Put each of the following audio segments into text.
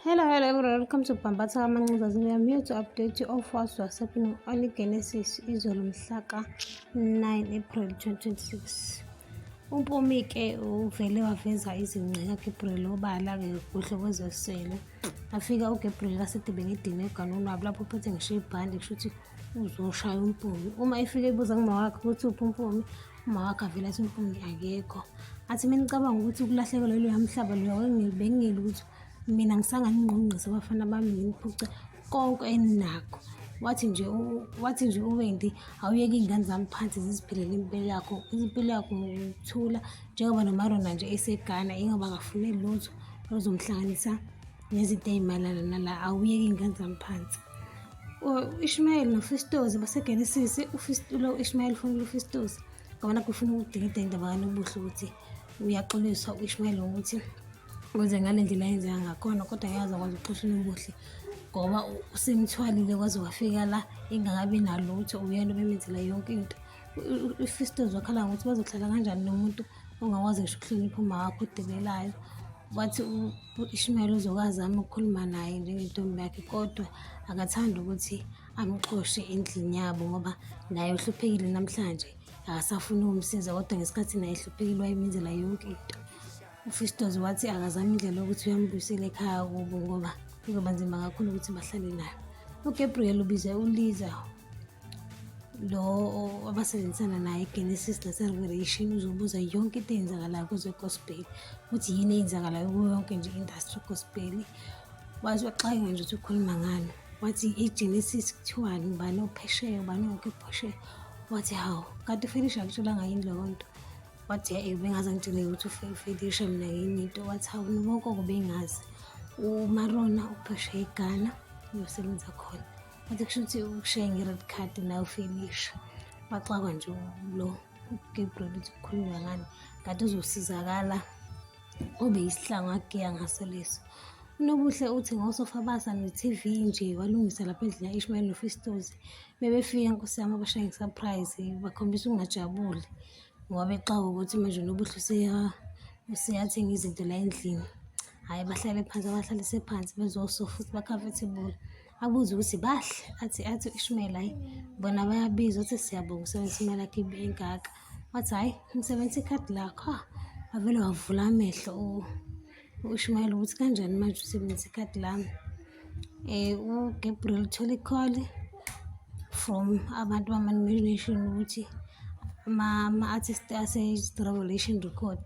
Hello, hello everyone. Welcome to Bambatha Kamancinza. We are here to update you of what's happening on the Genesis izolo mhlaka 9 April 2026. UMpumi ke uvele waveza izingqe kaGabriel obala ke kuhle kwezesele. Afika uGabriel kasedebe ngedini eganweni wabo lapho uphethe ngisho ibhande kusho ukuthi uzoshaya uMpumi. Uma efika ebuza ngumawakhe ukuthi uphi uMpumi umawakhe avele athi umfundi akekho athi mina ngicabanga ukuthi ukulahlekelwa iloya mhlaba loya bengingeli ukuthi mina ngisanganingqongqisa abafana bami nginiphuce konke eninakho wathi nje wathi nje uwendi awuyeke iy'ngane zami phansi ziziphilela impilo yakho impilo yakho ngokuthula njengoba nomarona nje esegana ingoba akafune lutho oluzomhlanganisa nezinto ey'mayelana nala awuyeke iy'ngane zami phansi U-Ishmayeli noFistozi baseGenesisi, lo u-Ishmayeli ufunela uFistozi ngabona kufuna ukudingida indaba kanobuhle ukuthi uyaxolisa u-Ishmayeli ngokuthi wenze ngale ndlela yenzeka ngakhona kodwa yazi akwazi ukuxoshela ubuhle ngoba usemthwalile kwaze wafika la engakabi nalutho uyena obemenzela yonke into uFistozi wakhala ngokuthi bazohlala kanjani nomuntu ongakwazi ngisho ukuhlonipha umawakho odebelayo wathi u-ishmael uzoke azame ukukhuluma naye njengentombi yakhe kodwa akathandi ukuthi amxoshe endlini yabo ngoba naye uhluphekile namhlanje akasafuni ukumsiza kodwa ngesikhathi naye ehluphekile wayemenzela yonke into ufistos wathi akazama indlela yokuthi uyambuyisela ekhaya kubo ngoba kuzoba nzima kakhulu ukuthi bahlale nayo ugabriel ubize uliza lo abasebenzisana naye egenesis naserevelation uzobuza yonke into eyenzakalayo kuze gospel ukuthi yini eyenzakalayo kuyo yonke nje industry gospel wazi waxakeka nje ukuthi ukhuluma ngani wathi igenesis kuthiwani ubani ophesheya ubani onke phesheya wathi hawu kanti ufelisha akutholanga yini leyo nto wathi e bengaze ngitshele ukuthi ufelisha mina yini into wathi hawu nobonke obengazi umarona uphesheya eghana uyosebenza khona Athi kusho ukuthi ukushaye nge-red card la ufinisha baxakwa nje lo ugabriel ukuthi kukhulunywa ngani kade uzosizakala ube yisihlangu agiya ngaso leso unobuhle uthi ngosofabasa ne-tv nje walungisa lapha endlini ya-ishmael nofistozi bebefika nkosi yami abashaye ngesurprise bakhombisa ukungajabuli ngoba bexaka ukuthi manje unobuhle useyathenga izinto la endlini hhayi bahlale phansi abahlalise phansi bezosofa ukuthi ba-comfortable abuze ukuthi bahle athi athi uIshmael hayi bona bayabiza uthi siyabonga usebenzisa imali yakhe engaka wathi hhayi ngisebenzisa ikhadi lakho ha wavele wavula amehlo uIshmael ukuthi kanjani manje usebenzisa ikhadi lami um uGabriel uthole ikholi from abantu bama-nomination ukuthi ama-artist ase-revelation record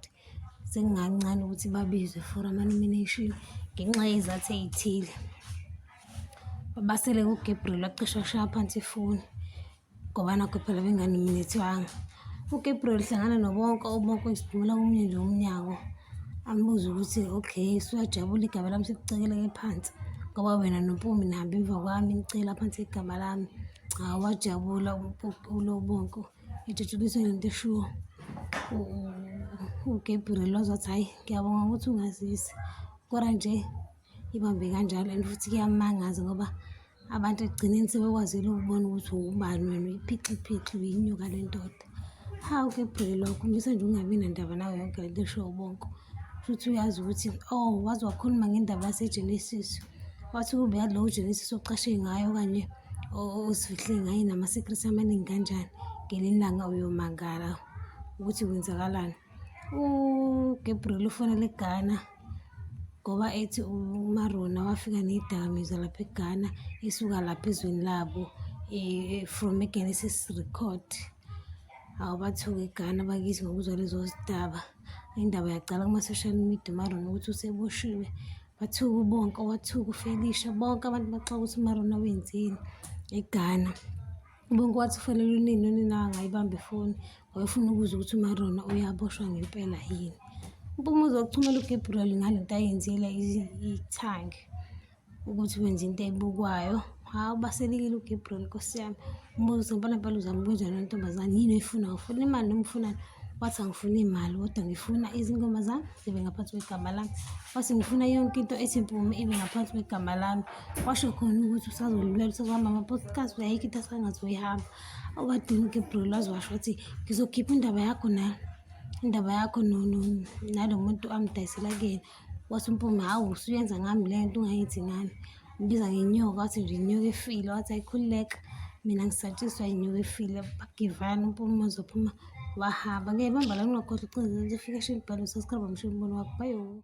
sekungancane ukuthi babizwe for ama-nomination ngenxa yezathu ey'thile babasele kugabriel wacisha kushaya phansi ifoni ngoba nakho phela benganiminethwanga ugabriel hlangana nobonke obonke isiphumela komunye nje umnyango ambuze ukuthi okay suyajabula igama lami sekucekeleke phansi ngoba wena nompumi nihambe emva kwami nicela phansi igama lami awajabula ulobonke ithuthukisa ngento eshiwo uGabriel wazothi hhayi ngiyabonga ukuthi ungazisi kodwa nje ibambe kanjalo and futhi kuyamangaza ngoba abantu ekugcineni sebekwazile ukubona ukuthi ubani wena uyiphixiphixa uyinyuka le ndoda hawu Gabriel wakhombisa nje ungabi nandaba nawe yonke le nto eshiwo bonke futhi uyazi ukuthi oh waze wakhuluma ngendaba yasegenesis wathi kube yalowo ugenesis oqashe ngayo okanye Oh, uzifihle ngaye nama-secret amaningi kanjani ngelinye ilanga uyomangala ukuthi kwenzakalani ugabriel ufonele eghana ngoba ethi umarona wafika neyidakamizwa lapha eghana esuka lapha ezweni labo eh, from egenesis record awu bathuke eghana bakithi ngokuzwa lezo zidaba indaba yaqala kuma-social media umarona ukuthi useboshiwe Wathuka ubonke, wathuka uFelisha, bonke abantu baxoka ukuthi uMarona wenzeni eGhana. Ubonke wathi ufanele unini, unina angayibambi ifoni, wayefuna ukuzwa ukuthi uMarona uyaboshwa ngempela yini. UMpumuza wakuthumela uGabriel ngale nto ayenzile ithangi ukuthi wenza into ebukwayo. Hawu baselekile uGabriel nkosi yami. Mbuzo ngibona phela uzama ukwenza le ntombazane yini oyifunayo ufuna imali noma ufunani wathi angifuni imali kodwa ngifuna izingoma zami zibe ngaphansi kwegama lami wathi ngifuna yonke into ethi mpume ibe ngaphansi kwegama lami washo khona ukuthi usazolulwela usazohamba ama-podcast uyayikho into asangazoyihamba okwadinike bro lwazi washo wathi ngizokhipha indaba yakho nalo indaba yakho nalo muntu amdayisela kuyena Wathi uMpume, hawu usuyenza ngami le nto ungayenzi ngami. Ubiza ngenyoka, wathi nje inyoka efile, wathi ayikhululeka. Mina ngisatshiswa inyoka efile, bagivana uMpume uzophuma wahamba. Ngeke bamba la ngingakhohlwa ucingo, ufike esho imibhalo, sesikhamba msho umbono wakho, bayo.